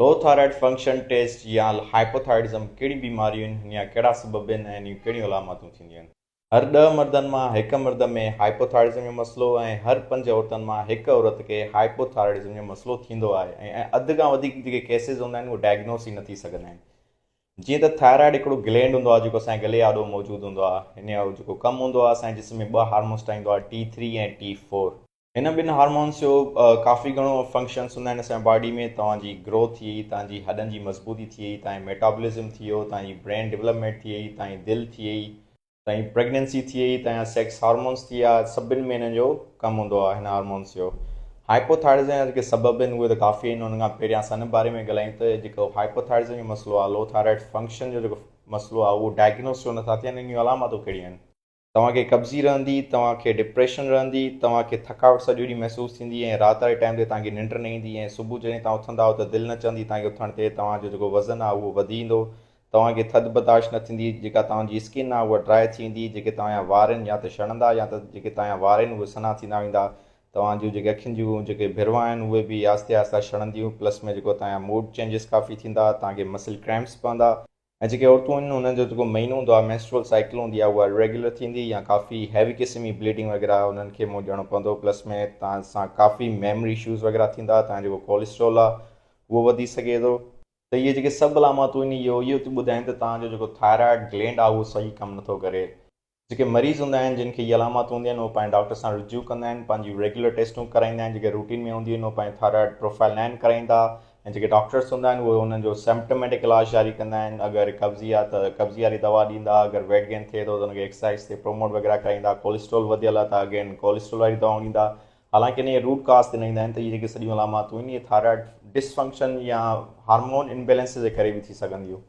لو thyroid function test يا hypothyroidism ڪهڙيون بيماريون آهن هن جا ڪهڙا سبب آهن ۽ انهيون ڪهڙيون علاماتون ٿينديون آهن. هر ڏهه مردن مان هڪ مرد ۾ هائپوٿائرڊزم جو مسئلو ۽ هر پنج عورتن مان هڪ عورت کي هائپوٿائرڊزم جو مسئلو ٿيندو آهي ۽ اڌ کان وڌيڪ جيڪي ڪيسز هوندا آهن اهي ڊائگنوز ئي نه ٿي سگهندا آهن جيئن ته ٿائرائڊ هڪڙو گلينڊ هوندو آهي جيڪو اسان جي گلي آڏو موجود هوندو آهي هن جو جيڪو ڪم هوندو آهي اسان جي جسم ۾ ٻه هارمونز ٺاهيندو آهي ٽي ٿري ۽ ٽي فور هن ٻن هارمونس جو ڪافي گهڻو فنڪشنس هوندا آهن اسان جي باڊي ۾ توهان جي گروٿ ٿئي توهان جي هڏن جي مضبوطي ٿئي توهان جي ميٽابولزم ٿئي توهان جي برين ڊولپمينٽ ٿئي توهان جي دل ٿئي توهان جي پريگنينسي ٿئي توهان جا سيڪس هارمونس ٿئي آ سڀن ۾ هن جو ڪم هوندو آ هن هارمونس جو هائپوٿائرزم جا جيڪي سبب آهن اهي ته ڪافي آهن ان کان پهريان اسان ان باري ۾ ڳالهايون ته جيڪو هائپوٿائرزم جو مسئلو آ لو ٿائرائڊ فنڪشن جو جيڪو مسئلو آ اهو ڊائگنوز ڇو نٿا ٿين ان جون علامتون ڪهڙيون آهن توهان کي قبضي رهندي، توهان کي ڊپريشن رهندي، توهان کي ٿڪاوٽ سڄو ڏينهن محسوس ٿيندي ۽ رات واري ٽائيم تي توهان کي ننڊ نه ايندي ۽ صبح جڏهن توهان اٿندا آهيو ته دل نه چوندي توهان کي اٿڻ تي توهان جو جيڪو وزن آهي اهو وڌي ايندو، توهان کي ٿڌ برداشت نه ٿيندي، جيڪا توهان جي اسڪن آهي اها ڊرائي ٿي ويندي، جيڪي توهان جا وار آهن يا ته شڙندا يا ته جيڪي توهان جا وار آهن اهي سنا ٿيندا ويندا، توهان جون جيڪي اکين جون جيڪي ڀرواء آهن اهي به آهستي آهستي شڙنديون پلس ۾ جيڪو توهان جا موڊ چينجز ڪافي ٿيندا، توهان کي مسل ڪريمپس پوندا. ۽ جيڪي عورتون آهن انهن جو جيڪو مهينو هوندو آهي Menstrual Cycle هوندي آهي اها Irregular ٿيندي يا ڪافي Heavy قسم جي Bleeding وغيره انهن کي منهن ڏيڻو پوندو پلس ۾ توهان سان ڪافي Memory Issues وغيره ٿيندا توهان جيڪو Cholesterol آهي اهو وڌي سگهي ٿو ته اهي جيڪي سڀ علاماتون آهن اهو اهو ٿيون ٻڌائين ته توهان جو جيڪو Thyroid Gland آهي اهو صحيح ڪم نٿو ڪري. جيڪي مريض هوندا آهن جن کي هي علامات هونديون آهن اهي پنهنجي ڊاڪٽر سان رجوع ڪندا آهن پنهنجيون ريگيولر ٽيسٽون ڪرائيندا آهن جيڪي روٽين ۾ هونديون آهن اهي پنهنجي ٿائرائڊ پروفائل نائن ڪرائيندا ۽ جيڪي ڊاڪٽرس هوندا آهن اهي انهن جو سمپٽوميٽڪ علاج جاري ڪندا آهن اگر قبضي آهي ته قبضي واري دوا ڏيندا اگر ويٽ گين ٿئي ٿو ته ان کي ايڪسرسائز تي پروموٽ وغيره ڪرائيندا ڪوليسٽرول وڌيل آهي ته اگين ڪوليسٽرول واري دوا ڏيندا حالانڪ ان جي روٽ ڪاز تي نه ايندا آهن ته اهي جيڪي سڄيون علاماتون آهن اهي ٿائرائڊ ڊسفنڪشن يا هارمون امبيلنس جي ڪري به ٿي سگهنديون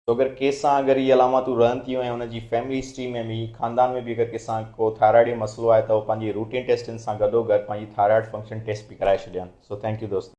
توگر ڪيس سان اگر اهي علاماتون رهن ٿيون ۽ ان جي فيملي هسٽري ۾ به، خاندان ۾ به اگر ڪنهن سان ڪو ٿائرائيڊ جو مسئلو آهي ته هو پنهنجي روٽين ٽيسٽن سان گڏوگڏ پنهنجي ٿائرائڊ فنڪشن ٽيسٽ به ڪرائي ڇڏين. سو ٿينڪ يو دوستو.